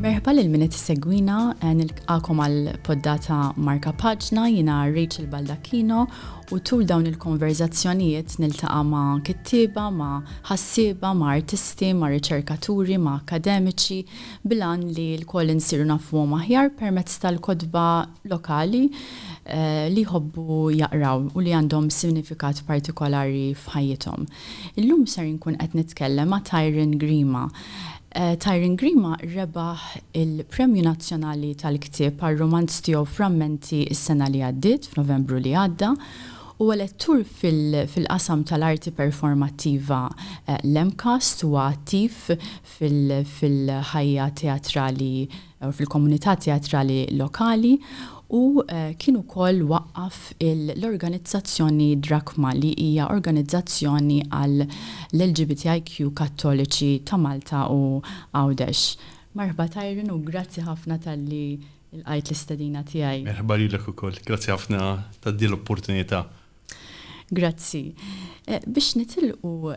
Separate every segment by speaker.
Speaker 1: Merħba lil min qed issegwina eh, nilqakom għal poddata Marka Paġna jiena Rachel Baldacchino u tul dawn il-konverzazzjonijiet niltaqa' ma' kittieba, ma' ħassieba, ma' artisti, ma' riċerkaturi, ma' akademiċi bilan li l-koll insiru nafuhom aħjar permezz tal-kodba lokali li jħobbu jaqraw u li għandhom sinifikat partikolari f'ħajjithom. Illum ser inkun qed nitkellem ma' Tyrone Grima. Tyrone Grima rebaħ il-Premju Nazzjonali tal-Ktieb għar-rumanz tiegħu Frammenti s-sena li għaddiet, f'Novembru li għadda. Huwa lettur fil-qasam tal-Arti Performattiva l-MCAST, huwa attiv fil-ħajja teatrali fil-komunità teatrali lokali u kien ukoll waqqaf l-organizzazzjoni Drakma li hija organizzazzjoni għall-LGBTIQ Kattoliċi ta' Malta u Għawdex. Merħba Tyron u grazzi ħafna talli lqajt l-istedina tiegħi. Merħba lilek ukoll.
Speaker 2: Grazzi ħafna ta' din l-opportunità.
Speaker 1: Grazzi. Biex nitilqu,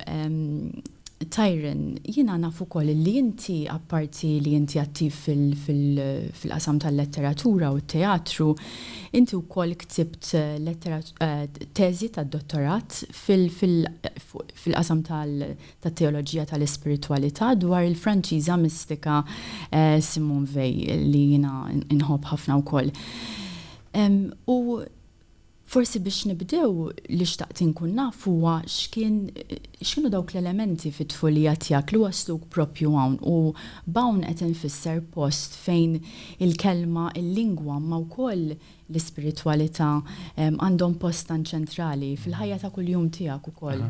Speaker 1: Tyron, jiena naf ukoll illi inti apparti li inti attiv fil-qasam tal-letteratura u t-teatru, inti wkoll ktibt teżi tad-dottorat fil-qasam tat-teoloġija tal-ispiritwalità dwar il-Franċiża mistika Simone Weil li jiena nħobb ħafna wkoll. U Forsi biex nibdew, li xtaqt inkun naf huwa x'kien, x'kienu dawk l-elementi fit-tfulija tiegħek li wassluk proprju hawn, u b'hawn qed infisser post fejn il-kelma, il-lingwa imma wkoll l-ispiritwalità għandhom post tant ċentrali fil-ħajja ta' kuljum tiegħek ukoll.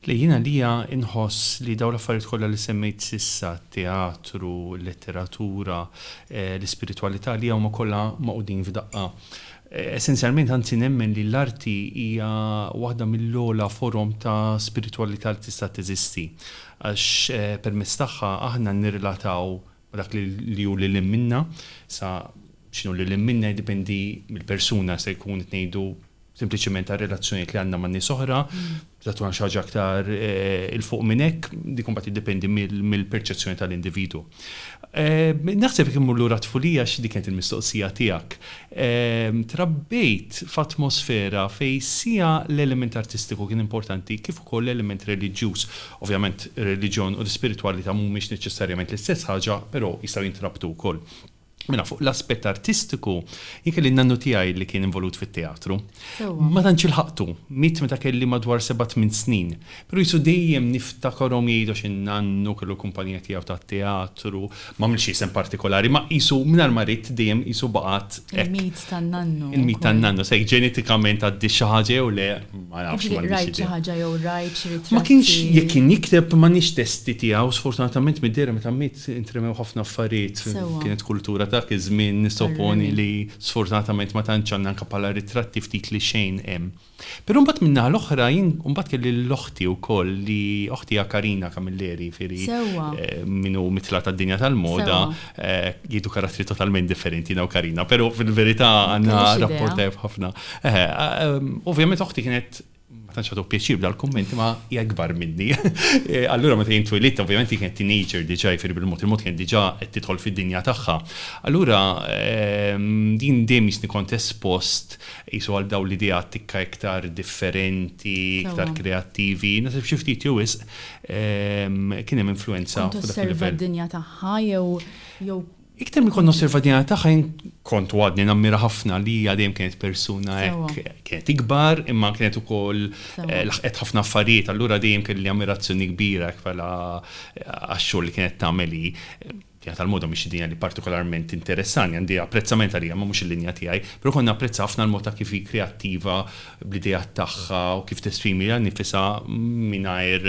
Speaker 1: Le, jien għalija
Speaker 2: inħoss li dawn l-affarijiet kollha li semmejt s'issa, t-teatru, il-letteratura, l-ispiritwalità, għalija huma kollha magħqudin f'daqqa. Essenzjalment, anzi nemmen li l-arti hija waħda mill-ogħla forom ta' spiritwalità li tista' teżisti, għax permezz tagħha aħna nirrelataw u dak li hu lil hinn minnha, sa x'inhu lil hinn minnha jiddependi mill-persuna, jista' jkun qed ngħidu sempliċement għar-relazzjonijiet li għandna man-nies oħra, tista' tkun għal xi ħaġa aktar 'il fuq minn hekk, dik imbagħad tiddependi mill-perċezzjoni tal-individwu. Naħseb jekk immur lura t-tfulija għax dik kienet il-mistoqsija tiegħek, trabbejt f'atmosfera fejn siha l-element artistiku kien importanti kif ukoll l-element reliġjuż. Ovvjament, ir-reliġjon u l-ispiritwalità mhumiex neċessarjament l-istess ħaġa, però jistgħu jintrabtu wkoll. Mela fuq l-aspett artistiku, jien kelli n-nannu tiegħi li kien involut fit-teatru. Ma tantx ilħaqtu, miet meta kelli madwar seba' tmien snin. Però qisu dejjem niftakarhom jgħidu għax in-nannu kellu l-kumpanija tiegħu tat-teatru, M'għamilx isem partikolari, ma qisu mingħajr ma rid dejjem qisu baqgħet hekk. Il-mit tan-nannu.
Speaker 1: Il-mit tan-nannu, se jekk
Speaker 2: ġenetikament għaddi xi ħaġa jew le, ma nafx. Jiġifieri jekk rajt xi ħaġa jew
Speaker 1: rajt xi ritratti. Ma kienx, jekk kien
Speaker 2: jikteb m'għandniex testi tiegħu, sfortunatament mid-dehra meta miet intremew ħafna affarijiet. Sewwa. Kienet kultura ta' dak iż-żmien, nissoponi li sfortunatament ma tantx għandna anke bħala ritratti ftit li xejn hemm. Però mbagħad min-naħa l-oħra jien mbagħad kelli lil oħti wkoll li oħti hija Karina Camilleri jifieri min hu mitla' tad-dinja tal-moda jieħdu karattri totalment differenti jiena u Karina, però fil-verità għandna rapport tajjeb ħafna. Ovvjament oħti kienet ma tantx tagħtuk pjaċir b'dal-kumment imma hija ikbar minni. Allura meta jien twilidt ovvjament hi kienet teenager diġà jifieri bil-mod il-mod kienet diġà qed tidħol fid-dinja tagħha. Allura jien dejjem jistni kont espost Qisu għal dawn l-ideat tikka iktar differenti, iktar kreattivi, naħseb xi ftit jew wisq kien hemm influwenza fuq dak il-livell. Kont tosserva d-dinja
Speaker 1: tagħha jew? Iktar milli kont
Speaker 2: nosserva d-dinja tagħha jien kont u għadni nammira ħafna li hija dejjem kienet persuna hekk, kienet ikbar imma kienet ukoll laħqet ħafna affarijiet allura dejjem kelli ammirazzjoni kbira hekk bħala għax-xogħol li kienet tagħmel hi. Dinja tal-moda mhix id-dinja li partikolarment tinteressani, għandi apprezzament għaliha imma mhux il-linja tiegħi, però kont napprezza ħafna l-mod ta' kif hi kreattiva bl-ideat tagħha u kif tesprimi lilha nnifisha mingħajr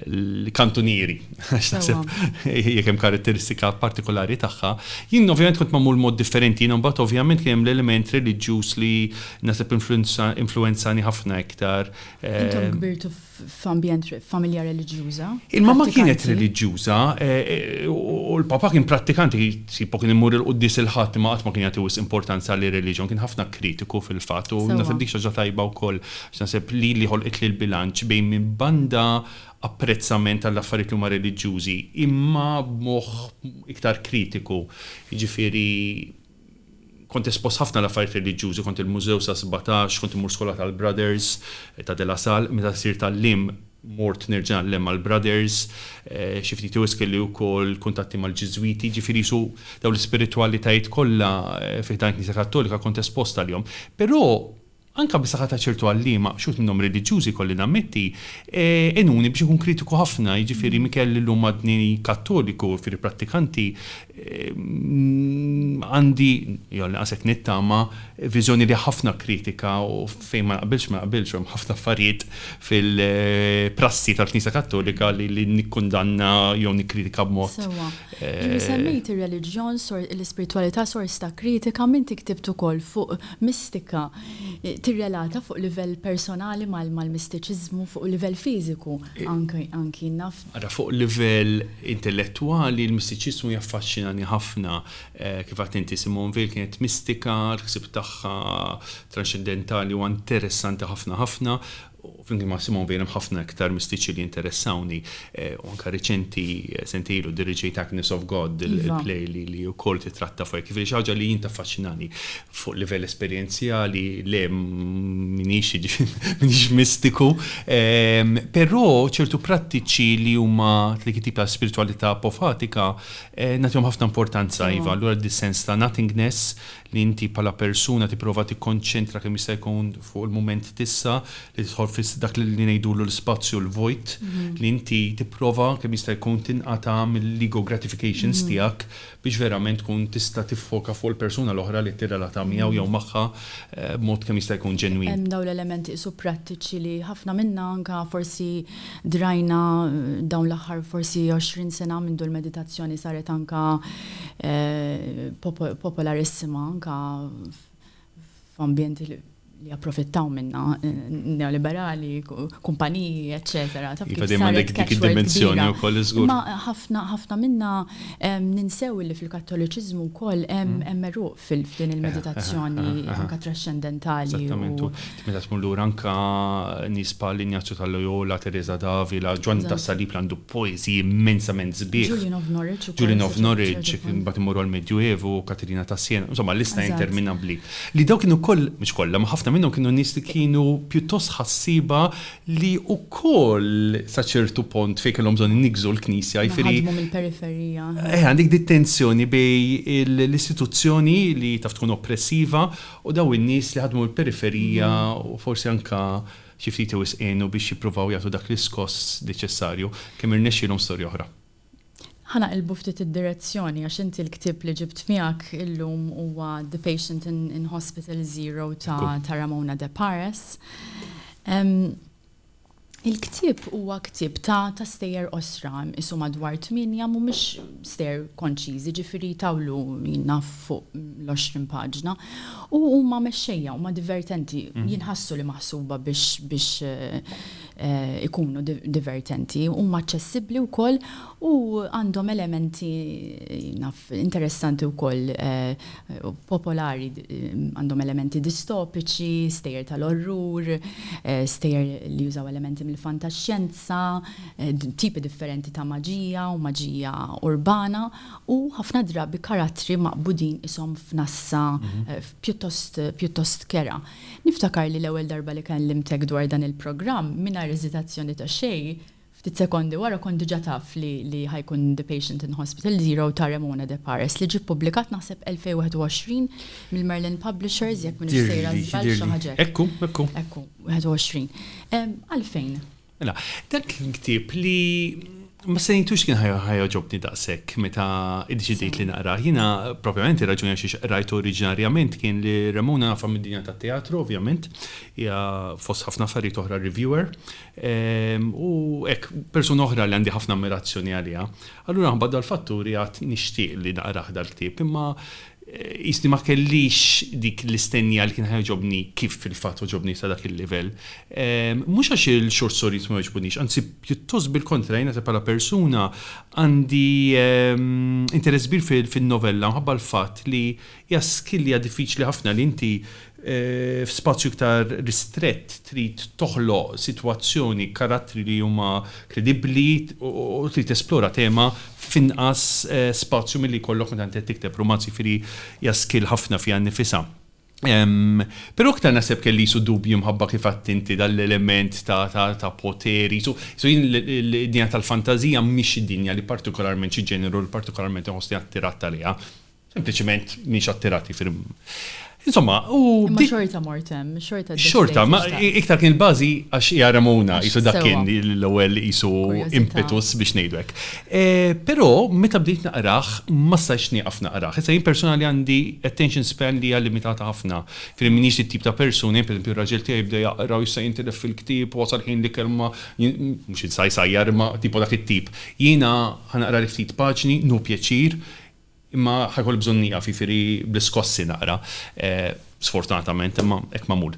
Speaker 2: l-kantunieri, għax naħseb jekk hemm karatteristika partikolari tagħha. Jien ovvjament kont magħmul b'mod differenti, jiena mbagħad ovvjament kien hemm l-element reliġjuż li naħseb influwenzani ħafna iktar. Intom kbirtu
Speaker 1: f'ambjent
Speaker 2: familja
Speaker 1: reliġjuża.
Speaker 2: Il-mamma
Speaker 1: kienet
Speaker 2: reliġjuża u l-papa kien prattikanti, sipu kien imur il-quddies il-Ħadd imma qatt ma kien jagħti wisq importanza lir-reliġjon, kien ħafna kritiku fil-fatt u naħseb dik xi ħaġa tajba wkoll għax naħseb li li ħolqitli l-bilanċ bejn minn banda apprezzament għall-affarijiet li huma reliġjużi imma b'moħħ iktar kritiku, jiġifieri Kont espost ħafna għal affarijiet reliġjużi, kont il-Mużew sa sbatax, kont immur skola tal-Brothers ta' De La Salle, meta sirt għalliem mort nerġa' ngħallem mal-Brothers, xi ftit wisq kelli wkoll kuntatti mal-Ġiżwiti, jiġifieri qisu dawn l-ispiritwalitajiet kollha fi ħdan il-Knisja Kattolika kont espost għalihom. Però Anke bis-saħħa ta' ċertu għalliema, x'uħud minnhom reliġjużi jkolli nammetti, għenuni biex inkun kritiku ħafna, jiġifieri Mikel illum għadni Kattoliku, jiġifieri prattikanti, għandi, jew għall-inqas hekk nittama, viżjoni li hija ħafna kritika u fejn ma naqbilx ma naqbilx u hemm ħafna affarijiet fil-prassi tal-Knisja Kattolika li nikkundanna jew nikkritika b'mod. Sewwa. Inti
Speaker 1: semmejt ir-reliġjon, l-ispiritwalità sors ta' kritika m'inti ktibt ukoll fuq mistika tirrelata fuq livell personali mal-mistiċiżmu fuq livell fiżiku anki, naf. Ara, fuq livell
Speaker 2: intellettwali l-mistiċiżmu jaffaxxinani ħafna. Kif għedt inti, Simone Veil kienet mistika, l-ħsieb tagħha tranxxendentali huwa interessanti ħafna ħafna. u flimkien ma' Simone Veil hemm ħafna iktar mistiċi li jinteressawni, u anke riċenti, sentejn ilu, diriġejt Agnes of God, il-play li wkoll titratta fuq hekk. Jiġifieri xi ħaġa li jien taffaċinani. Fuq livell esperjenzjali, le, m'iniex, m'iniex mistiku, però ċertu prattiċi li huma ta' dik it-tip ta' spiritwalità apofatika nagħtihom ħafna importanza, iva. Allura dis-sens ta' nothingness, li inti bħala persuna tipprova tikkonċentra kemm jista' jkun fuq il-mument t'issa, li tidħol fi dak li ngħidulu l-ispazju l-vojt, li inti tipprova kemm jista' jkun tinqata' mill-ego gratifications tiegħek biex verament tkun tista' tiffoka fuq il-persuna l-oħra li qed tirrelata miegħu jew magħha b'mod kemm jista' jkun ġenwin. Hemm dawn l-elementi qisu
Speaker 1: prattiċi li ħafna minna anka forsi drajna dawn l-aħħar forsi għoxrin sena mindu l-meditazzjoni saret anka popolarissima anka f'ambjenti li japprofittaw minnha, neoliberali, kumpaniji, eċċetera. Taf kif
Speaker 2: saret catchword kbira. Imma ħafna ħafna
Speaker 1: minnha ninsew li fil-Kattoliċiżmu wkoll hemm għeruq f'din il-meditazzjoni anke traxxendentali. Eżattament, u
Speaker 2: meta tmur lura anke nies bħal Ignazio ta' Loyola, Teresa d'Avila, Ġwanni tas-Salib li għandu poeżiji immensament sbieħ. Julian of Norwich ukoll. Julian of Norwich, imbagħad immorru għall-Medju Evu, Katerina ta' Siena, insomma lista interminabbli. Li dawk kienu wkoll, mhux kollha, ma ħafna minnhom kienu nies li kienu pjuttost ħassieba li wkoll sa ċertu pont fejn kellhom bżonn iniggżu l-Knisja, jiġifieri. Naħdmu mill-periferija.
Speaker 1: Eh, għandek dik
Speaker 2: tensjoni bej l-istituzzjoni li taf tkun oppressiva u daw in-nies li ħadmu mill-periferija mhm. u forsi anka xi ftit wisqienu biex jippruvaw jagħtu dak l-iskoss neċessarju kemm irnexxielhom storja oħra. Ħa naqilbu
Speaker 1: ftit id-direzzjoni għax inti l-ktieb li ġibt miegħek illum huwa The Patient in Hospital Zero ta' ta' Ramona De Pares. Il-ktieb huwa ktieb ta' ta' stejjer qosra, qisu madwar tmienja mhumiex stejjer konċiżi, ġifieri jtawlu jien naf fuq l-għoxrin paġna. U huma mexxejja, huma divertenti, jinħassu li maħsuba biex biex ikunu divertenti, huma aċċessibbli wkoll u għandhom elementi naf interessanti wkoll popolari, għandhom elementi distopiċi, stejjer tal-orrur, stejjer li jużaw elementi mill-fantaxxjenza, tipi differenti ta' maġija u maġija urbana u ħafna drabi karattri maqbudin qishom f'nassa pjuttost kerha. Niftakar li l-ewwel darba li kellimtek dwar dan il-programm, mingħajr eżitazzjoni ta' xejn, ftit sekondi wara kont diġà taf li li ħa jkun The Patient in Hospital Zero ta' Ramona De Paris, li ġie ppubblikat naħseb 2021 mill-Merlin Publishers, jekk m'iniex sejra żball xi ħaġa hekk. Ekku, ekku. Ekku, 21. Għalfejn? Mela,
Speaker 2: dak kien ktieb li ma stennejtux kien ħa jogħġobni daqshekk meta iddeċidejt li naqrah. Jiena, propjament ir-raġuni għalxiex qrajtu oriġinarjament kien li Ramona nafha mid-dinja tat-teatru, ovvjament, hija fost ħafna affarijiet oħra reviewer, u hekk, persuna oħra li għandi ħafna ammirazzjoni għaliha. Allura minħabba dal-fatturi għadt nixtieq li naqrah dal-ktieb, imma Qisni ma kellix dik l-istennija li kien ħa jogħġobni kif fil-fatt għoġobni sa dak il-livell. Mhux għax il-short stories ma jogħġbunix, anzi pjuttost bil-kontra jien naħseb bħala persuna għandi interess kbir fin-novella minħabba l-fatt li hija skillja diffiċli ħafna li inti f'spazju iktar ristrett trid toħloq sitwazzjoni, karattri li huma kredibbli u trid tesplora tema f'inqas spazju milli jkollok meta inti qed tikteb rumanz, jiġifieri hija skill ħafna fiha nnifisha. Però iktar naħseb kelli qisu dubji minħabba kif għidt inti dan l-element ta' poter, qisu jien id-dinja tal-fantażija mhix id-dinja li partikolarment xi ġeneru li partikolarment inħossni attirat għaliha. Sempliċiment mhix attirati fil Insomma, u. Ma xorta
Speaker 1: mortem, xorta Xorta, ma
Speaker 2: iktar kien il-bazi għax hija Ramona, jisu dak kien l-ewwel jisu impetus biex ngħidwek. E, però meta bdejt naqraħ, ma stajx nieqaf naqraħ. Issa jien personali għandi attention span li hija limitata ħafna. Fil minix it-tip ta' persuni, per esempio, raġel tiegħi bda jaqra u jista' jintilef fil-ktieb u wasal ħin li kelma mhux insaj sajjar ma tipo dak it-tip. Jiena ħanaqra li ftit paġni, nu pjaċir, Imma ħa jkolli bżonn nieqaf, jiġifieri bl-iskossi naqra, sfortunatament, imma hekk magħmul.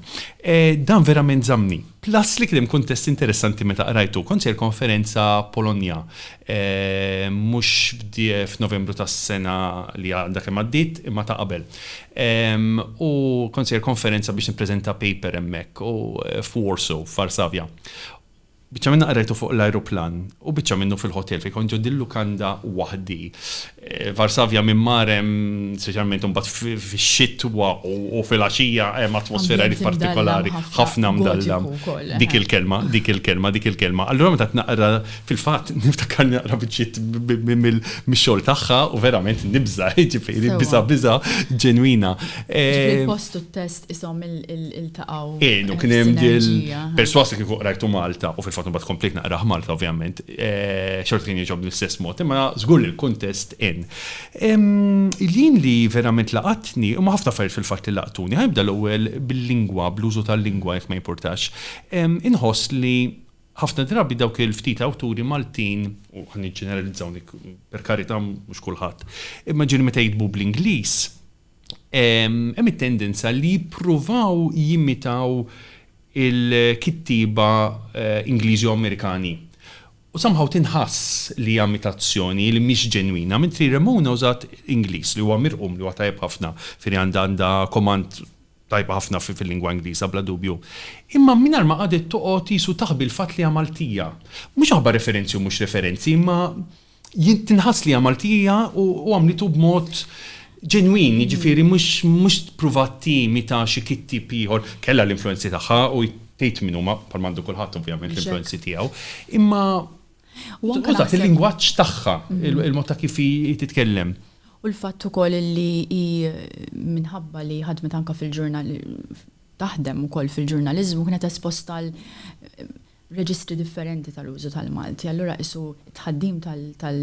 Speaker 2: Dan verament żammni. Plus li kien hemm kuntest interessanti meta qrajtu. Kont sejr konferenza Polonja, mhux f'Novembru tas-sena li għadha kemm għaddiet, imma ta' qabel. U kont sejr konferenza biex nippreżenta paper hemmhekk, u f'Warsaw, f'Varsavja. Biċċa minnha qrajtu fuq l-ajruplan u biċċa minnu fil-ħotel fejn kont ġo din lukanda waħdi. Varsavja minn mar hemm, speċjalment imbagħad fix-xitwa u fil-għaxija hemm atmosfera li partikolari, ħafna mdalla. Dik il-kelma, dik il-kelma, dik il-kelma. Allura meta qed naqra fil-fatt niftakar naqra biċċiet mix-xogħol tagħha u verament nibża', jiġifieri biża' biża' ġenwina. Il-post
Speaker 1: u t-test isom il-taqaw. Inu kien hemm
Speaker 2: dil-perswasa kieku qrajtu Malta, u fil-fatt mbagħad komplejt naqrah Malta ovvjament, eh, xorta kien jieġob l-istess mod, imma żgur li l-kuntest in. Jien li verament laqatni, u ħafna affarijiet fil-fatt li laqtuni, ħajbda l-ewwel bil-lingwa, bl-użu tal-lingwa jekk ma jimpurtax. Inħoss li ħafna drabi dawk il-ftit awturi Maltin, u ħan ġeneralizzaw per karita mhux kulħadd, imma ġieli meta jitbu bl-Ingliż, hemm it-tendenza li jippruvaw jimitaw il-kittieba Ingliżi u Amerikani. U somehow tinħass li hija imitazzjoni li mhix ġenwina, mentri Ramona użat Ingliż li huwa mirqum, li huwa tajjeb ħafna, Fini għandha għandha command tajba ħafna fil-lingwa Ingliża bla dubju. Imma mingħajr ma qagħdet toqgħod qisu taħbi l-fatt li hija Maltija. Mhux aħbar referenzi u mhux referenzi, imma Jien tinħass li hija Maltija u għamlitu b'mod ġenwin, jiġifieri mhux pruvat timita xi kittib ieħor. Kellha l-influenzi tagħha u tgħid min huma bħal m'għandu kulħadd ovvjament l-influenzi tiegħu. Imma użat il-lingwaġġ tagħha, il-mod ta' kif hi titkellem. U l-fatt
Speaker 1: ukoll li hi minħabba li ħadmet anke fil-ġurnal taħdem ukoll fil-ġurnaliżmu kienet esposta għal reġistri differenti tal-użu tal-Malti. Allura qisu t-tħaddim tal, tal,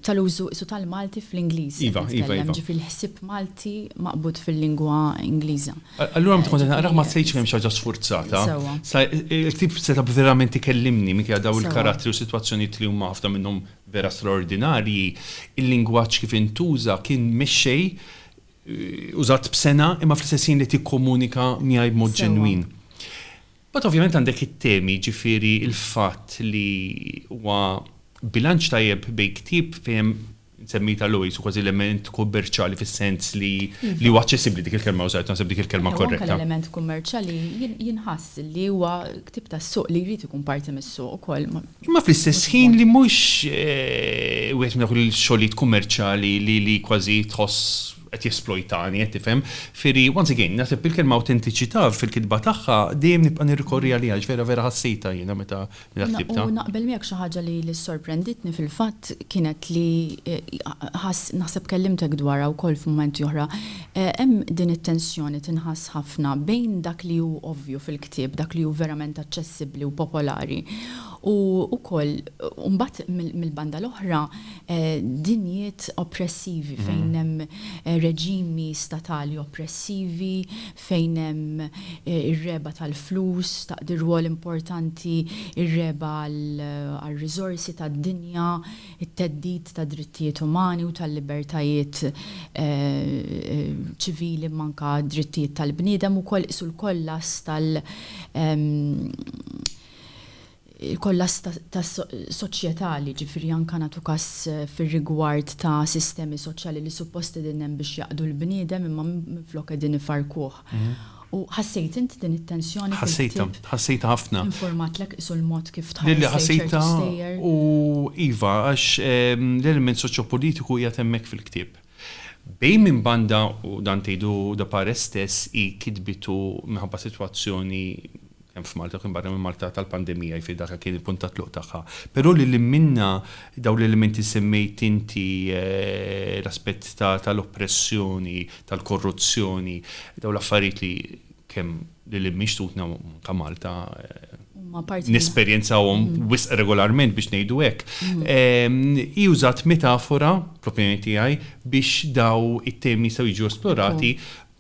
Speaker 1: tal-użu qisu tal-Malti fl-Ingliż qed nitkellem, ġifieri
Speaker 2: l-ħsieb
Speaker 1: Malti maqbud fil-lingwa Ingliża. Allura meta kont qed
Speaker 2: naqrah ma ħsejtx li hemm xi ħaġa sfurzata. Sa il-ktieb setgħa verament ikellimni minkejja dawn il-karattri u sitwazzjonijiet li huma ħafna minnhom vera straordinarji, il-lingwaġġ kif intuża kien mexxej użat b'sengħa imma fl-istess ħin li tikkomunika miegħi b'mod ġenwin. Mbagħad ovvjament għandek it-temi, ġifieri l-fatt li huwa bilanċ tajjeb bejn ktieb fejn hemm insemmita l-OIS u kważi element kummerċjali fis-sens li li huwa aċċessibbli dik il-kelma użajt naħseb dik il-kelma korretta. Anke l-element kummerċjali
Speaker 1: jinħass li huwa ktieb tas-suq li jrid ikun parti mis-suq ukoll. Imma fl-istess
Speaker 2: ħin li mhux wieħed minn dawk il-xogħlijiet kummerċjali li kważi tħoss qed jesplojtani, qed tifhem. Firi, once again, naħseb il-kelma awtentiċità fil-kitba tagħha dejjem nibqa' nirrikorri għaliha għax vera vera ħassejtha jiena meta ktibtha. U naqbel miegħek xi ħaġa
Speaker 1: li ssorprenditni fil-fatt kienet li naħseb kellimtek dwarha wkoll f'mumenti oħra, hemm din it-tensjoni tinħass ħafna bejn dak li hu ovvju fil. ktieb, dak li hu verament aċċessibbli u popolari. U wkoll, u mbagħad mill-banda l-oħra, dinjiet oppressivi fejn hemm reġimi statali oppressivi, fejn hemm ir-regħba tal-flus, taqdi rwol importanti, ir-regħba għar-riżorsi tad-dinja, it-theddid tad-drittijiet umani u tal-libertajiet ċivili imma anke d-drittijiet tal-bniedem ukoll qisu l-kollass tal il-kollass ta' soċjetà li jiġifieri anke nagħtu każ fir-rigward ta' sistemi soċjali li suppost qegħdin hemm biex jaqdu l-bniedem imma minflok qegħdin ifarrkuh. U ħassejt int din it-tensjoni fil-ktieb? Ħassejtha, ħassejtha
Speaker 2: ħafna. Infurmatlek qisu l-mod
Speaker 1: kif tħares lejn ċertu stejjer? Lili
Speaker 2: ħassejtha u iva, għax l-element soċjopolitiku qiegħed hemmhekk fil-ktieb. Bejn minn banda, u dan tgħidu Da Pares stess, hi kitbitu minħabba sitwazzjoni kemm f'Malta u kemm barra minn Malta tal-pandemija, jiġifieri dak kien il-punt ta' tluq tagħha. Però lil hinn minnha, dawn l-elementi li semmejt inti, l-aspett tal-oppressjoni, tal-korruzzjoni, dawn l-affarijiet li kemm lil hinn minn xtutna u anke Malta nesperjenzawhom wisq regolarment biex ngħidu hekk, hi użat metafora, fl-opinjoni tiegħi, biex dawn it-temi jistgħu jiġu esplorati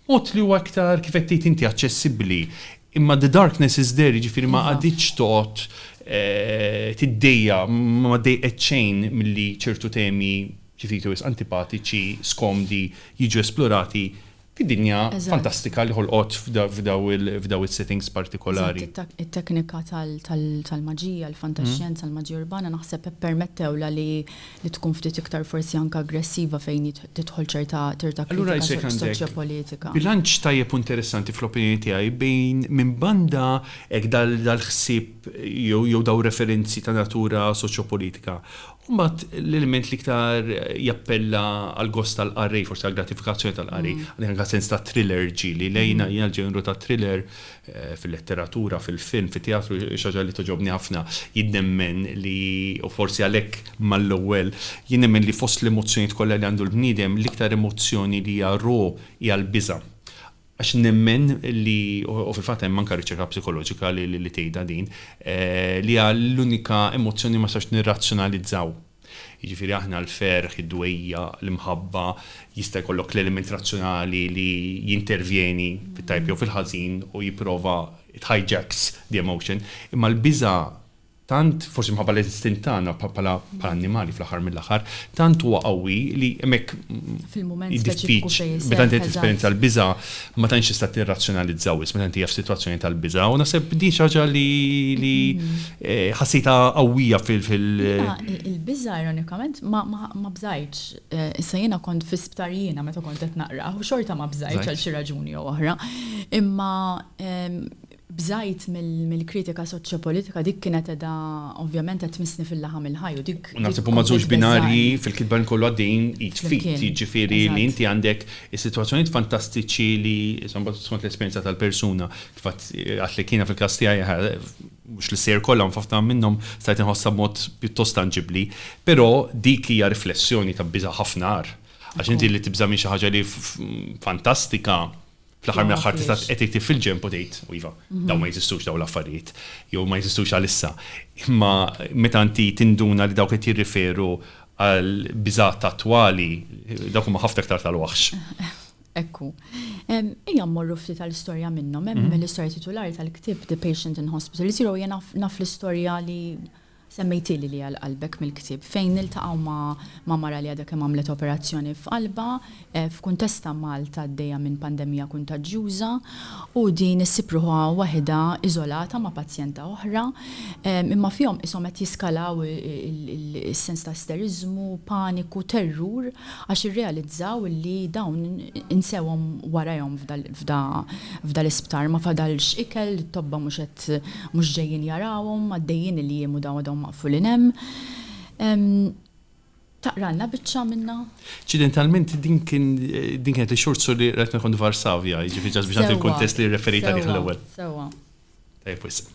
Speaker 2: Mod li huwa iktar, kif qed tgħid inti, aċċessibbli. Imma the darkness is there, jiġifieri ma qagħditx toqgħod tiddejjaq, ma dejqet xejn milli ċertu temi xi ftit jew wisq antipatiċi, skomdi jiġu esplorati fid-dinja fantastika li ħolqot f'dawn is-settings partikolari. Eżatt, it-teknika
Speaker 1: tal-maġija, il-fantaxjenza, il-maġija urbana naħseb ippermettewlha li li tkun ftit iktar forsi anke aggressiva fejn tidħol ċerta ċerta kritika soċjopolitika. Bilanċ tajjeb u
Speaker 2: interessanti fl-opinjoni tiegħi bejn minn banda hekk dal-ħsieb jew dawn referenzi ta' natura soċjopolitika u mbagħad l-element li iktar jappella għall-gost tal-qari, forsi għall-gratifikazzjoni tal-qari, għalhekk anke sens ta' thriller ġieli lejna jiena l-ġenru tat-thriller fil-letteratura, fil-film, fit-teatru, xi ħaġa li togħġobni ħafna. Jien nemmen li, u forsi għalhekk mal-ewwel, jien nemmen li fost l-emozzjonijiet kollha li għandu l-bniedem, l-iktar emozzjoni li hija raw hija l-biża'. Għax nemmen li, u fil-fatt hemm anke riċerka psikoloġika li tgħidha din, li hija l-unika emozzjoni li ma nistgħux nirrazzjonalizzaw. Jiġifieri aħna l-ferħ, id-dwejjaq, l-imħabba, jista' jkollok l-element razzjonali li jintervjeni fit-tajjeb jew fil-ħażin u jipprova it hijacks the emotion, imma l-biża' tant, forsi minħabba l-istint tagħna bħala annimali fl-aħħar mill-aħħar, tant huwa qawwi li hemmhekk
Speaker 1: meta inti qed tesperjenza
Speaker 2: l-biża' ma tantx tista' tirrazzjonalizza wisq meta inti qiegħed f'sitwazzjoni tal-biża' u naħseb din xi ħaġa li Ħassejtha qawwija fil-. Jiena il-biża'
Speaker 1: ironikament ma bżajtx. Issa jiena kont fi sptar jiena meta kont qed naqrah u xorta ma bżajtx għal xi raġuni jew oħra. Imma bżajt mill-kritika soċjopolitika dik kienet qiegħda ovvjament qed tmissni fil-laħam il-ħaj u dik. Naħseb huma żewġ binarji
Speaker 2: fil-kitba li kollu għaddejjin id f'id. Jiġifieri li inti għandek is-sitwazzjonijiet fantastiċi li skont l-esperjenza tal-persuna kif għedt li kien fil-każ tiegħi mhux li sejjer kollha, ma f'ħafna minnhom stajt inħossha b'mod pjuttost tanġibbli, però dik hija riflessjoni ta' biża' ħafna agħar. Għax inti li tibża' minn xi ħaġa li fantastika, fl-aħħar mill-aħħar tista' qed tiktib fil-ġenb u tgħid, u iva, dawn ma jeżistux dawn l-affarijiet, jew ma jeżistux għalissa. Imma meta inti tinduna li dawk qed jirriferu għall-biżgħat attwali, dawk huma ħafna iktar tal-waħx. Hekk hu.
Speaker 1: Ejja mmorru ftit għal istorja minnhom. Hemm l-istorja titulari tal-ktieb The Patient in Hospital Zero, jiena naf l-istorja li semmejtieli li għal qalbek mill-ktieb, fejn niltaqgħu ma' mara li għadha kemm għamlet operazzjoni f'qalbha, f'kuntest ta' Malta għaddejja minn pandemija kuntaġġjuża, u din issib ruħha waħidha iżolata ma' pazjenta oħra, imma fihom qishom qed jiskalaw is-sens ta' isteriżmu, paniku, terrur, għax irrealizzaw li dawn insewhom warajhom f'da l-isptar, ma fadalx ikel, it-tobba mhux qed mhux ġejjin jarawhom, għaddejjin il-jiem u dawn għadhom maqfulin hemm. Taqralna biċċa minnha? Ċidentalment
Speaker 2: din kien din kienet ix-xhur su li qed nkun f'Varsavja, jiġifieri ġast biex nagħti l-kuntest li rreferejt għalih l-ewwel. Sewwa, sewwa.
Speaker 1: Tajjeb wisq.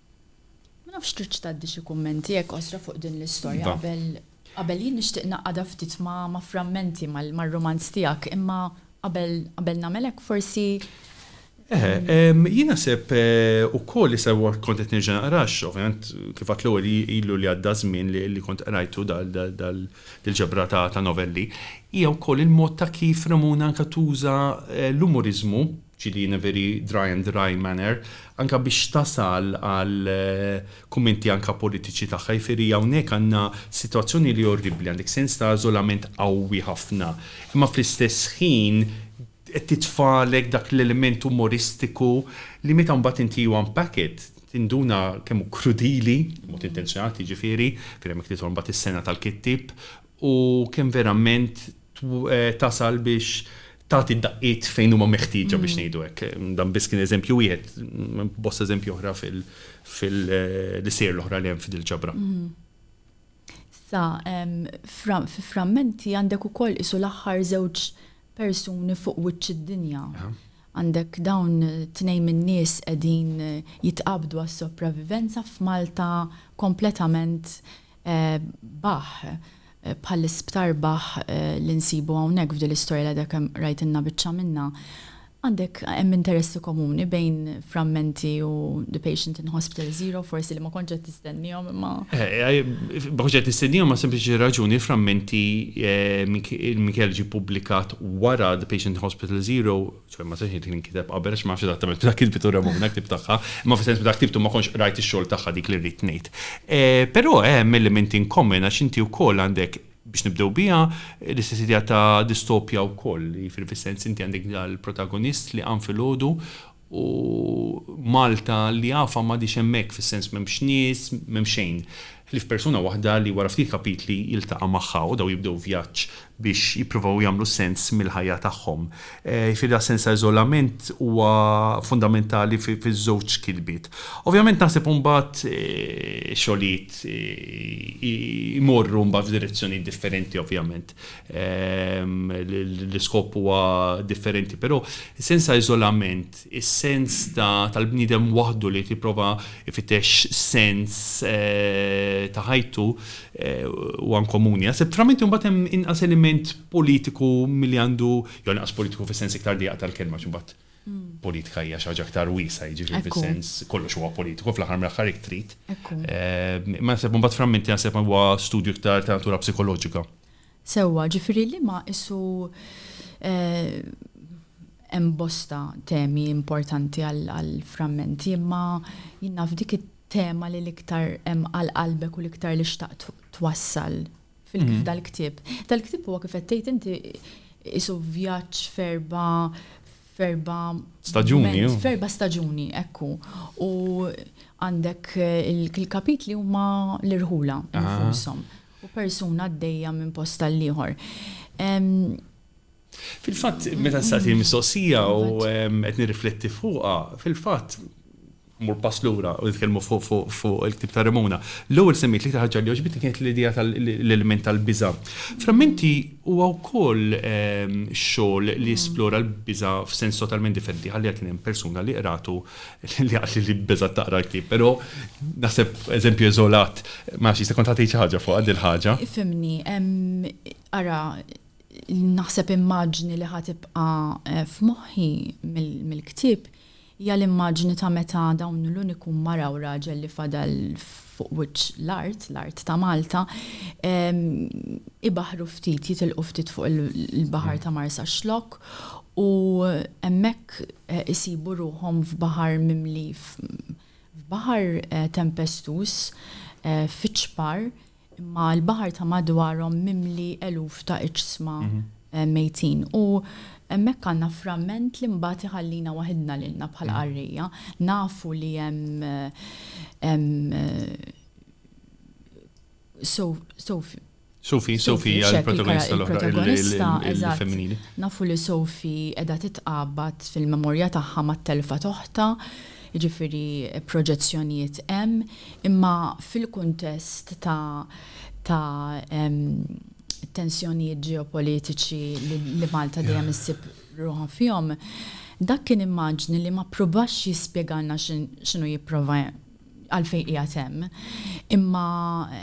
Speaker 1: Ma nafx tridx tgħaddi xi kummenti hekk qosra fuq din l-istorja qabel qabel jien nixtieq ngħaqqadha ftit ma' ma' frammenti mar-rumanz tiegħek imma qabel qabel nagħmel hekk forsi Jien
Speaker 2: naħseb ukoll issa kont qed nerġa' naqra għax ovvjament kif għedt l-ewwel ilu li għadda żmien li kont qrajtu dil-ġebra ta' novelli hija wkoll il-mod ta' kif Ramona anke tuża l-umuriżmu Ġili Neveri, Dry and Dry manner, anka biex tasal għal kummenti anka politiċi tagħha, jifieri hawnhekk għandna sitwazzjoni li orribbli, għandek sens ta' iżolament qawwi ħafna, imma fl-istess ħin qed titfagħlek dak l-element umoristiku li meta mbagħad inti you unpack it tinduna kemm hu krudili, b'mod intenzjonat jiġifieri, fejn hemmhekk tidħol mbagħad is-sengħa tal-kittieb u kemm verament tasal biex tagħti d-daqqiet fejn huma meħtieġa biex ngħidu hekk. Dan biss kien eżempju wieħed, bosta eżempji oħra fil-isejjer l-oħra li hemm f'dil ġabra.
Speaker 1: Sa fi frammenti għandek ukoll isu l-aħħar żewġ persuni fuq wiċċ id-dinja. Għandek dawn tnejn min-nies qegħdin jitqabdu għas-sopravivenza f'Malta kompletament Bah, bħall-isptar Bah li nsibu hawnhekk f'din l-istorja li għadha kemm rajtilna biċċa minnha, għandek, hemm interessi komuni bejn Frammenti u The Patient in Hospital Zero, forsi li ma kontx qed tistennihom imma. Ma
Speaker 2: kontx qed nistennihom għal sempliċi raġuni, Frammenti, il-Mikiel ġie ppubblikat wara The Patient in Hospital Zero, ċoj ma sex li nkiteb qabel għax ma nafx eżattament meta kitbitu Ramona ktib tagħha, ma fis-sens meta ktibtu ma kontx rajt ix-xogħol tagħha dik li rrid ngħid. Eh, però hemm element in common għax inti wkoll għandek biex nibdew biha l-istess idea ta' distopja wkoll, li fil-sens inti għandek dal-protagonist li għan fil-ħodu u Malta li għafa ma diċ emmek fil-sens memx nis, memx xejn. ħlief persuna waħda li wara ftit kapitli jiltaqa' magħha u dawn jibdew vjaġġ biex jippruvaw jagħmlu sens mill-ħajja tagħhom. Jiġifieri l-sens ta' iżolament huwa fundamentali fiż-żewġ kitbiet. Ovvjament naħseb imbagħad ix-xogħlijiet imorru mbagħad f'direzzjonijiet differenti ovvjament. L-iskop huwa differenti però sens ta' iżolament is-sens tal-bniedem waħdu li qed jipprova jfittex sens ta' ħajtu huwa inkomuni. Naħseb f'Framenti mbagħad hemm inqas element politiku milli għandu, jew inqas politiku fis-sens iktar dieqa tal-kelma għax imbagħad politika hija xi ħaġa aktar wiesgħa, jiġifieri fis-sens kollox huwa politiku fl-aħħar mill-aħħar hekk trid. Imma naħseb imbagħad Framenti naħseb huwa studju iktar ta' natura psikoloġika. Sewwa,
Speaker 1: ġifieri liema isu hemm bosta temi importanti għall-frammenti imma jien naf dik it-tema li l-iktar hemm għal qalbek u l-iktar li xtaqt twassal f'dal-ktieb. Dal-ktieb huwa kif qed tgħid inti isu vjaġġ f'erba' f'erba' staġuni. F'erba' staġuni, ekku. U għandek il-kapitli huma l-irħula infushom. U persuna għaddejja minn post tal-ieħor.
Speaker 2: Fil-fatt, meta s-sati mistoqsija u qed nirrifletti fuqha, fil-fatt, Mmur pass lura u nitkellmu fuq il-ktieb ta' Remona. L-ewwel semmiet l-iktar ħaġa li għoġbitni kienet l-idea tal-element tal-biża'. Frammenti huwa wkoll xogħol li jesplora l-biża' f'sens totalment differenti. Ħalliha kien hemm persuna li qratu li qaltli li beżgħet taqra l-ktieb. Però naħseb eżempju eżolat, ma nafx, jista' jkun taf tgħid xi ħaġa fuqha din il-ħaġa. Ifhimni,
Speaker 1: ara, naħseb immaġni li ħa tibqa' f'moħħi mill-ktieb Hija l-immaġni ta' meta dawn l-uniku mara u raġel li fadal fuq wiċċ l-art, l-art ta' Malta, ibaħħru ftit, jitilqu ftit fuq il-baħar ta' Marsaxlokk u hemmhekk isibu ruħhom f'baħar mimli, f'baħar tempestuż, fiċ-ċpar, Imma l-baħar ta' madwarhom mimli eluf ta' iġsma mejtin. U hemmhekk għandna framment li mbagħad iħallina waħidna lilna bħala qarrejja. Nafu li hemm Sophie.
Speaker 2: Sophie, Sophie hija l-protagonista
Speaker 1: l-oħra, il-femminili.
Speaker 2: Nafu li
Speaker 1: Sophie qiegħda titqabad fil-memorja tagħha mat-telfa t'oħtha. Jiġifieri proġezzjonijiet hemm, imma fil-kuntest ta' ta' tensjonijiet ġeopolitiċi li Malta dejjem issib ruħha fihom, dak kien immaġni li ma ppruvax jispjegalna x'inhu jipprova għalfejn qiegħed hemm, imma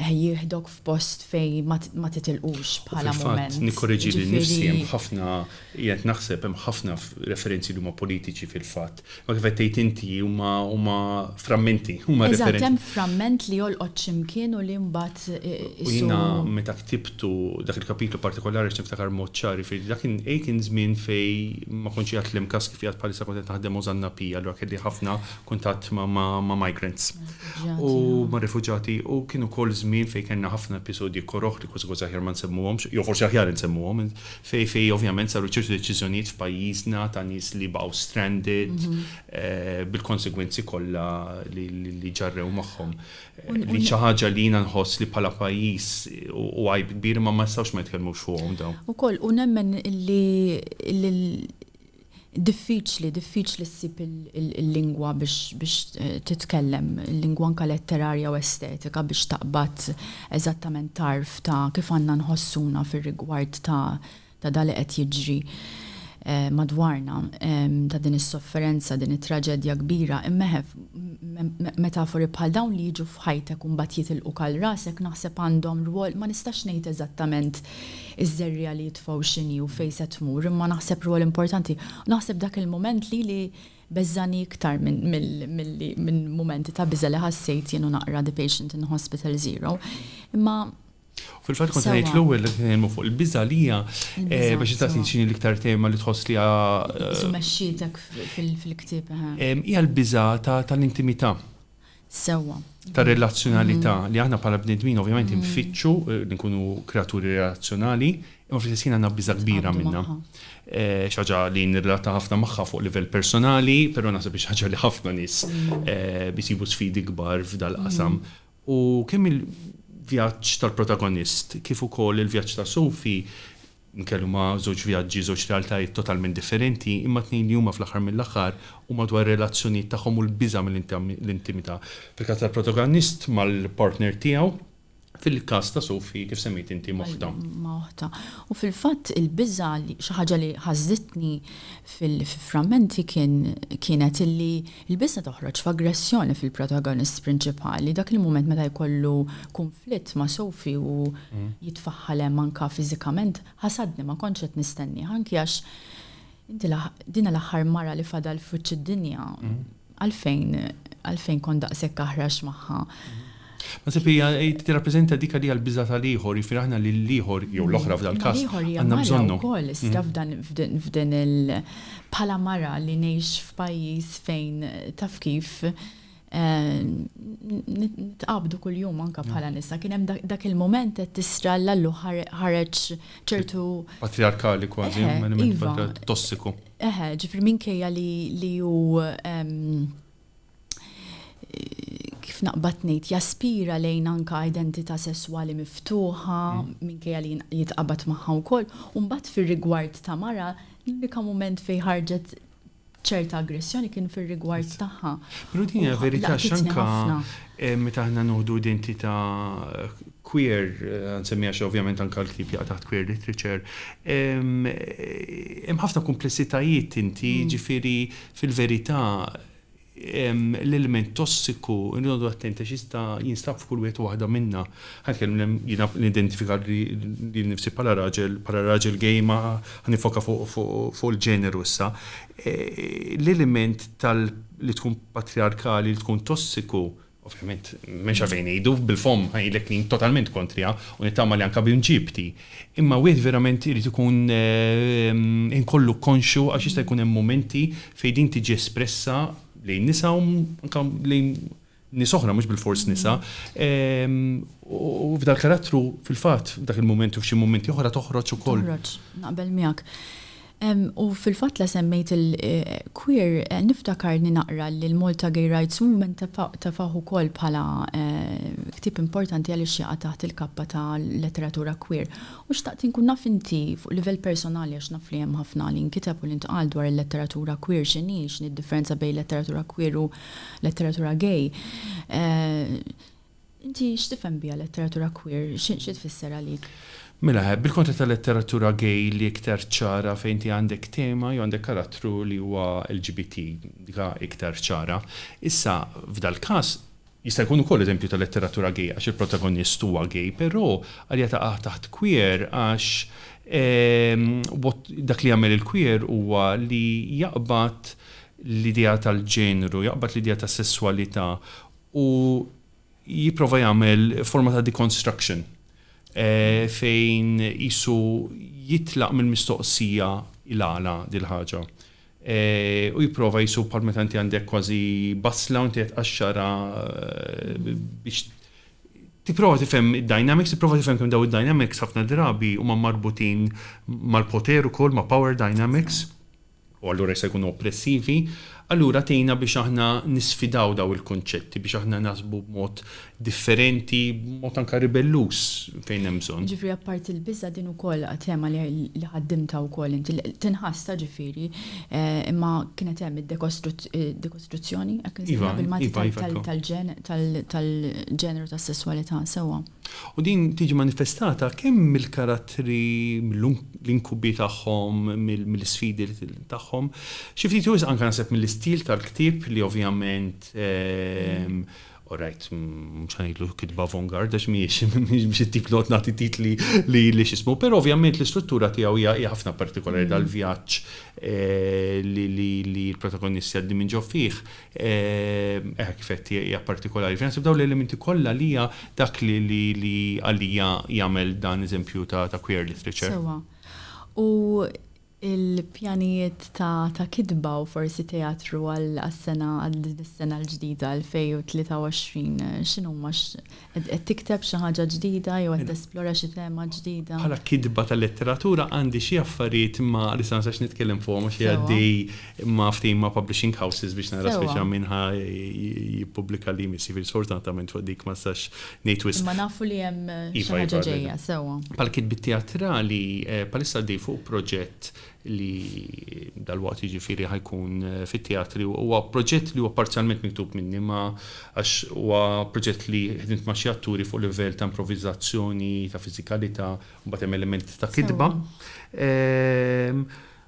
Speaker 1: jieħdok f'post fejn ma titilqux bħala mument. Fil-fatt, nikkoreġi lil nifsi,
Speaker 2: hemm ħafna, qiegħed naħseb, hemm ħafna referenzi li huma politiċi fil-fatt, Imma kif qed tgħid inti, huma, huma frammenti, huma referenzi. Eżatt, hemm framment li
Speaker 1: jolqot xi mkien u li mbagħad isu. U jiena
Speaker 2: meta ktibtu dak il-kapitlu partikolari għax niftakar b'mod ċar, jiġifieri dak kien, A kien żmien fejn ma kontx qiegħed l-MCAS kif qiegħed bħalissa kont qed naħdem Ożanna P, allura kelli ħafna kuntatt ma' migrants. U ma' rifuġjati, u kien ukoll żmien fejn kellna ħafna episodji koroh li kważi kważi aħjar ma nsemmuhomx, jew forsi aħjar insemmuhom, Fejn fejn ovvjament saru ċertu deċiżjonijiet f'pajjiżna ta' nies li baqgħu stranded bil-konsegwenzi kollha li ġarrew magħhom. Li xi ħaġa li jiena nħoss li bħala pajjiż hu għajb kbir imma ma nistgħux ma nitkellmux fuqhom dawn. Ukoll u nemmen
Speaker 1: li Diffiċli, diffiċli ssib il-lingwa biex titkellem, il-lingwa anke letterarja u estetika biex taqbad eżattament tarf ta' kif għandna nħossuna fir-rigward ta' ta' dak li qed jiġri madwarna, ta' din is-sofferenza, din it-traġedja kbira. Imma eħef, metafori bħal dawn li jiġu f'ħajtek u mbagħad jitilquk għal rasek naħseb għandhom rwol, ma nistax ngħid eżattament iż-żerriegħa li jitfgħu x'inhi u fejn se tmur, imma naħseb rwol importanti. Naħseb dak il-mument lili beżżagħni iktar minn mumenti ta' biża' li ħassejt jien u naqra The Patient in Hospital Zero. Imma Fil-fatt
Speaker 2: kont ngħid l-ewwel li nitkellmu fuq il-biża' li hija eh, biex tagħti x'inhi l-iktar tema li tħoss li hija. Isu eh, mexxietek
Speaker 1: fil-ktieb. Eh. Hija l-biża'
Speaker 2: tal-intimità. sewwa.
Speaker 1: Ta'
Speaker 2: relazzjonalità li aħna bħala bnedmin ovvjament infittxu li nkunu kreaturi relazzjonali, imma fl-istess ħin għandna biża' kbira minnha. Xi ħaġa li nirrelata ħafna magħha fuq livell personali, però naħseb xi ħaġa li ħafna nies isibu sfidi kbar f'dal-qasam. U kemm il-vjaġġ tal-protagonist kif ukoll il-vjaġġ ta' Sophie, Nkellmu ma' żewġ vjaġġi, żewġ realtajiet totalment differenti, imma tnejn li huma fl-aħħar mill-aħħar huma dwar ir-relazzjonijiet tagħhom u l-biża' mill-intimità. Fil-każ tal-protagonist mal-partner tiegħu, fil-każ ta' Sophie kif semmejt inti ma' oħtha. Ma' oħtha.
Speaker 1: U fil-fatt il-biża' li, xi ħaġa li ħażitni fil-frammenti kien, kienet illi Il-biża' toħroġ f'aggressjoni fil-protagonist prinċipali, dak il-mument meta jkollu kunflitt ma' Sophie u jitfaħħal hemm anke fiżikament, ħasadni ma kontx qed nistennieh anki għax inti din l-aħħar mara li fadal f'wiċċ id-dinja, għalfejn għalfejn kont daqshekk aħrax magħha. Naħseb
Speaker 2: li hija tirrappreżenta dik li hija l-biża' tal-ieħor, jiġifieri aħna lill-ieħor, jew l-oħra f'dal każ, għandna bżonnhom. Imma l-ieħor hija mara wkoll, iżda
Speaker 1: f'dan, f'din il, bħala mara li ngħix f'pajjiż fejn taf kif, nitqabdu kuljum anke bħala nisa, kien hemm dak il-mument qed tisra' l-allu ħareġ ċertu. Patrijarkali
Speaker 2: kważi, element tossiku. Eħe, ġifieri
Speaker 1: minkejja li hu. kif naqbad ngħid jaspira lejn anka identità sesswali miftuħa mm. minkejja li jitqabad magħha wkoll. U mbagħad fir-rigward ta' mara l-unika mument fejn ħarġet ċerta aggressjoni kien fir-rigward tagħha. Però din hija verità
Speaker 2: x'anka eh, meta aħna noħdu identità queer, eh, nsemmija xi ovvjament anke l-ktib jaqa' taħt queer literature, eh, hemm ħafna komplessitajiet inti, mm. ġifieri fil-verità l-ilment tossiku, irridu noqogħdu attenti għax jista' jinstab f'kull wieħed u waħda minna. Ħa nitkellem jiena nidentifika lili nnifsi bħala raġel, bħala raġel gay imma ħa niffoka fuq il-ġeneru issa. L-ilment tal li tkun patrijarkali, li tkun tossiku, Ovvjament, m'hemmx għalfejn ngħidu, bil-fomm ngħidlek li jien totalment kontriha u nittama li anke b'imġiebti. Imma wieħed verament irid ikun inkollu konxju għax jista' jkun hemm mumenti fejn din tiġi espressa lejn nisa u anke lejn nies oħra mhux bilfors nisa. U f'dal-karattru fil-fatt f'dak il-mument u f'xi mumenti oħra toħroġ ukoll. Toħroġ, naqbel
Speaker 1: miegħek. U fil-fatt la semmejt il, queer, niftakarni naqra li l-Malta Gay Rights Movement tefgħuh ukoll bħala ktieb importanti għaliex jaqa' taħt il-kappa ta' letteratura queer. U xtaqt inkun naf inti, fuq livell personali għax naf li hemm ħafna li nkiteb u li ntqal dwar il-letteratura queer x'inhi, x'inhi d-differenza bejn letteratura queer u letteratura gay. Inti x'tifhem biha letteratura queer? Xi tfisser għalik? Mela, bil-kontra
Speaker 2: tal-letteratura gay li iktar ċara fejn inti għandek tema jew għandek karattru li huwa LGBT, dika iktar ċara. Issa, f'dal-każ, jista' jkun ukoll eżempju ta' letteratura gay għax il-protagonist huwa gay, però għalija taqa' taħt queer għax dak li jagħmel il-queer huwa li jaqbad l-idea tal-ġeneru, jaqbad l-idea tas-sesswalità u jipprova jagħmel forma ta' deconstruction fejn qisu jitlaq mill-mistoqsija il-għala dil-ħaġa u jipprova qisu bħal meta inti għandek kważi basla u inti qed tqaxxarha biex tipprova tifhem id-dynamics, tipprova tifhem kemm daw id-dynamics ħafna drabi huma marbutin mal-poter ukoll ma' power dynamics. u allura jistgħu jkunu oppressivi, allura tgħinna biex aħna nisfidaw dawn il-kunċetti, biex aħna naħsbu b'mod differenti, b'mod anke ribelluż fejn hemm bżonn. Ġifieri apparti l-biża'
Speaker 1: din ukoll tema li ħaddimtha wkoll inti, tinħassa ġifieri, imma kienet hemm id-dekostruzzjoni, hekk insejħilha bil-Malti, tal-ġeneru tas-sesswalità, sewwa? U din tiġi
Speaker 2: manifestata kemm mill-karattri, mill-inkubi tagħhom, mill-isfidi tagħhom, xi ftit jew wisq anke naħseb mill-istil tal-ktieb li ovvjament, all right, mhux ħa ngħidlu kitba avantgarde għax mhijiex, mhux it-tip li noqgħod nagħti titli li x'ismu, però ovvjament l-istruttura tiegħu hija ħafna partikolari dal-vjaġġ li l-protagonisti għaddin minn ġo fih, Hekk kif għedt hija partikolari. Fejn naħseb dawn l-elementi kollha li hija dak li għalija jagħmel dan eżempju ta' queer literature. Sewwa.
Speaker 1: U l-pjanijiet ta' kitba u forsi teatru għas-sena għal din is-sena l-ġdida 2023 x'inhuma? Qed qed tikteb xi ħaġa ġdida jew qed tesplora xi tema ġdida? Bħala kitba ta'
Speaker 2: letteratura għandi xi affarijiet ma' li sa ma sax nitkellem fuqhom għax qiegħed għaddej ma' ftehim ma' publishing houses biex nara spiċċa min ħa jippubblika li jmiss, jiġifieri sfortunatament fuq dik ma nistax ngħid wisq. Imma nafu li hemm
Speaker 1: xi ħaġa ġejja, sewwa. Bħala kitbiet teatrali
Speaker 2: bħalissa għaddej fuq proġett li dalwaqt jiġifieri ħa jkun fit-teatri, huwa proġett li huwa parzjalment miktub minni imma għax huwa proġett li ħdimt ma' xi atturi fuq livell ta' improviżazzjoni, ta' fiżikalità, mbagħad hemm element ta' kitba.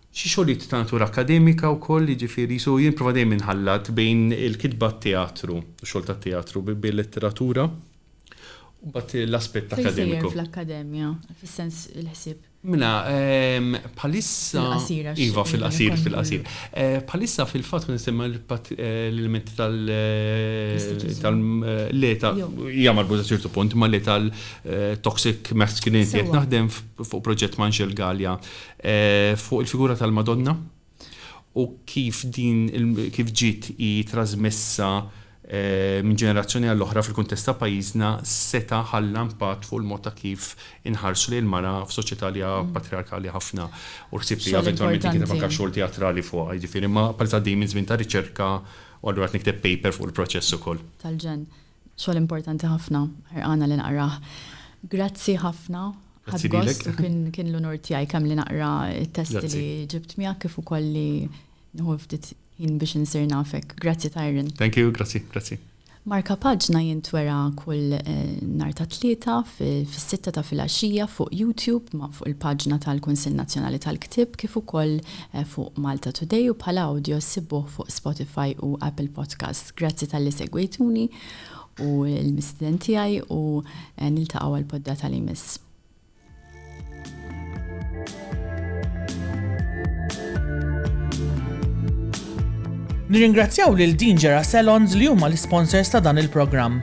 Speaker 2: Xi xogħlijiet ta' natura akkademika wkoll, jiġifieri so jien nipprova dejjem inħallat bejn il-kitba għat-teatru, x-xogħol tat-teatru bil-letteratura u mbagħad l-aspett akkademiku. Fejn sejjer fl-akkademja,
Speaker 1: fis-sens il-ħsieb? Mela,
Speaker 2: bħalissa. Fil-qasir għax. Iva, fil-qasir, fil-qasir. Bħalissa fil-fatt kont nistenna l-ilment tal. Le, ta'. Hija marbuta ċertu punt, imma le tal-toxic masculinity. Qed naħdem fuq proġett ma' Anxel Galea fuq il-figura tal-Madonna. u kif din kif ġiet hi trażmessa minn ġenerazzjoni għal oħra fil-kuntest ta' pajjiżna seta' ħalla impatt fuq il-mod ta' kif inħarsu lejn il-mara f'soċjetà li hija patrijarkali ħafna u l-ħsieb li eventwalment jinkiteb anke xogħol teatrali fuqha jiġifieri imma bħalissa għaddejjin minn żmien ta' riċerka u allura qed nikteb paper fuq il-proċess ukoll. tal-ġen.
Speaker 1: Xogħol importanti ħafna, ħerqana li naqrah. Grazzi ħafna. Grazzi lilek. Ħadd gost u kien l-unur tiegħi kemm li naqra t-testi li ġibt miegħek kif ukoll li nieħu ftit ħin
Speaker 2: biex
Speaker 1: insir nafek. Grazzi Tyron. Thank you, grazzi,
Speaker 2: grazzi.
Speaker 1: Markapaġna jintwera kull nhar ta' Tlieta fis-sitta ta' filgħaxija fuq YouTube ma' fuq il-paġna tal-Kunsill Nazzjonali tal-Ktieb kif ukoll fuq Malta Today u bħala awdjo ssibuh fuq Spotify u Apple Podcasts. Grazzi talli segwejtuni u l-mistiden tiegħi u niltaqgħu għal poddata li jmiss.
Speaker 3: Nirringrazzjaw lil Dingera Salons li huma l-sponsors ta' dan il-programm.